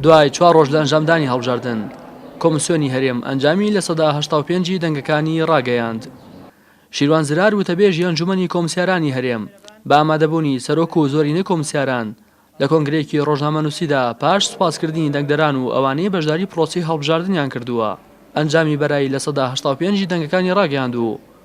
دوای چوار ڕۆژ لە ئەنجامدانی هەڵبژاردن کۆمسیۆنی هەرێم ئەنجامی لە سەدا هەشتا و پێنجی دەنگەکانی ڕاگەیاند شیروان زرار وتەبێژی ئەنجومەنی کۆمسیارانی هەرێم بە ئامادەبوونی سەرۆک و زۆرینەی کۆمسیاران لە کۆنگرەیەکی ڕۆژنامەنووسیدا پاش سوپاسکردنی دەنگدەران و ئەوانەی بەشداری پرۆسی هەڵبژاردنیان کردووە ئەنجامی بەرایی لە سەدا هەشتا و پێنجی دەنگەکانی ڕاگەیاند و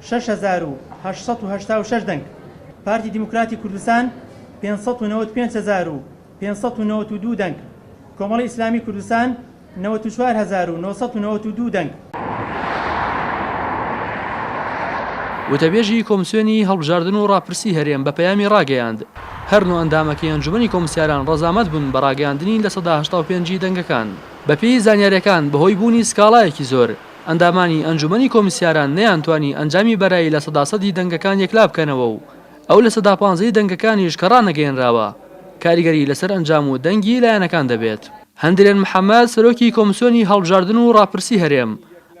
شەش هەزار و هەشت سەد و هەشتا و شەش دەنگ، پارتی دیموکراتی کوردستان پێنج سەد و نەوەد و پێنج هەزار و پێنج سەد و نەوەد و دوو دەنگ، کۆمەڵی ئیسلامی کوردستان نەوەد و چوار هەزار و نۆ سەد و نەوەد و دوو دەنگ. وتەبێژی کۆمسیۆنی هەڵبژاردن و ڕاپرسی هەرێم بە پەیامی ڕاگەیاند، هەر نۆ ئەندامەکەی ئەنجومەنی کۆمسیاران ڕەزامەت بوون بە ڕاگەیاندنی لە سەدا هەشتا و پێنج ی دەنگەکان. بەپێی زانیارییەکان بەهۆی بوونی سکاڵایەکی زۆر، ئەندامانی ئەنجومەنی کۆمیسیاران نەیانتوانی ئەنجامی بەرایی لە سەدا سەدی دەنگەکان یەکلا بکەنەوە و ئەو لە سەدا پانزەی دەنگەکانیش کە ڕانەگەیەنراوە کاریگەری لەسەر ئەنجام و دەنگی لایەنەکان دەبێت. هەندرێن محەمەد، سەرۆکی کۆمسیۆنی هەڵبژاردن و ڕاپرسی هەرێم،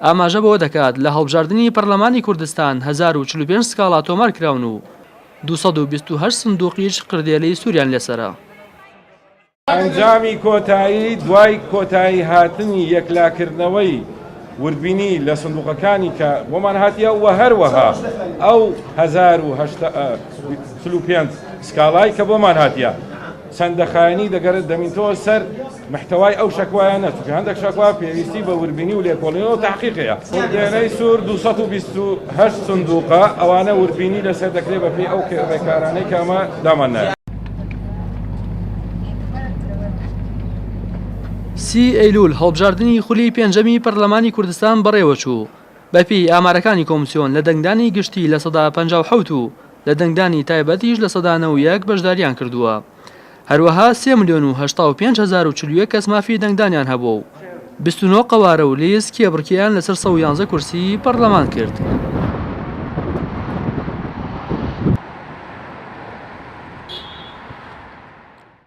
ئاماژە بەوە دەکات، لە هەڵبژاردنی پەرلەمانی کوردستان هەزار و چل و پێنج سکاڵا تۆمار کراون و دوو سەد و بیست و هەشت سندووقیش قردێلەی سووریان لەسەرە. ئەنجامی کۆتایی دوای کۆتایی هاتنی یەکلاکردنەوەی وردبینی لە سندوقەکانی کە بۆمان هاتیە و هەروەها ئەو 1945 سکاڵای کە بۆمان هاتیە چەندە خایەنی دەگەرت دەمینتەوە سەر محتوای ئەو شکوایە نەچکە هەندێک شکوا پێویستی بە وربینی و لێکۆڵینەوە تحقیقەیە دێنەی سوور 228 سندوقە ئەوانە وربینی لەسەر دەکرێت بەپی ئەو ڕێکارانەی کامە داماننایە سی ئەیلول هەڵبژاردنی خولی پێنجەمی پەرلەمانی کوردستان بەڕێوەچوو بەپێی ئامارەکانی کۆمسیۆن لە دەنگدانی گشتی لە سەدا پ و لە دەنگدانی تایبەتیش لە سەدا نە و یەک بەشداریان کردووە هەروەها سێ ملیۆن و هەشتا و پێنج هەزار و چل و یەک کەس مافی دەنگدانیان هەبووە و بیست و نۆ قەوارە و لیست کێبڕکێیان لەسەر سەد و یانزە کورسیی پەڕلەمان کرد.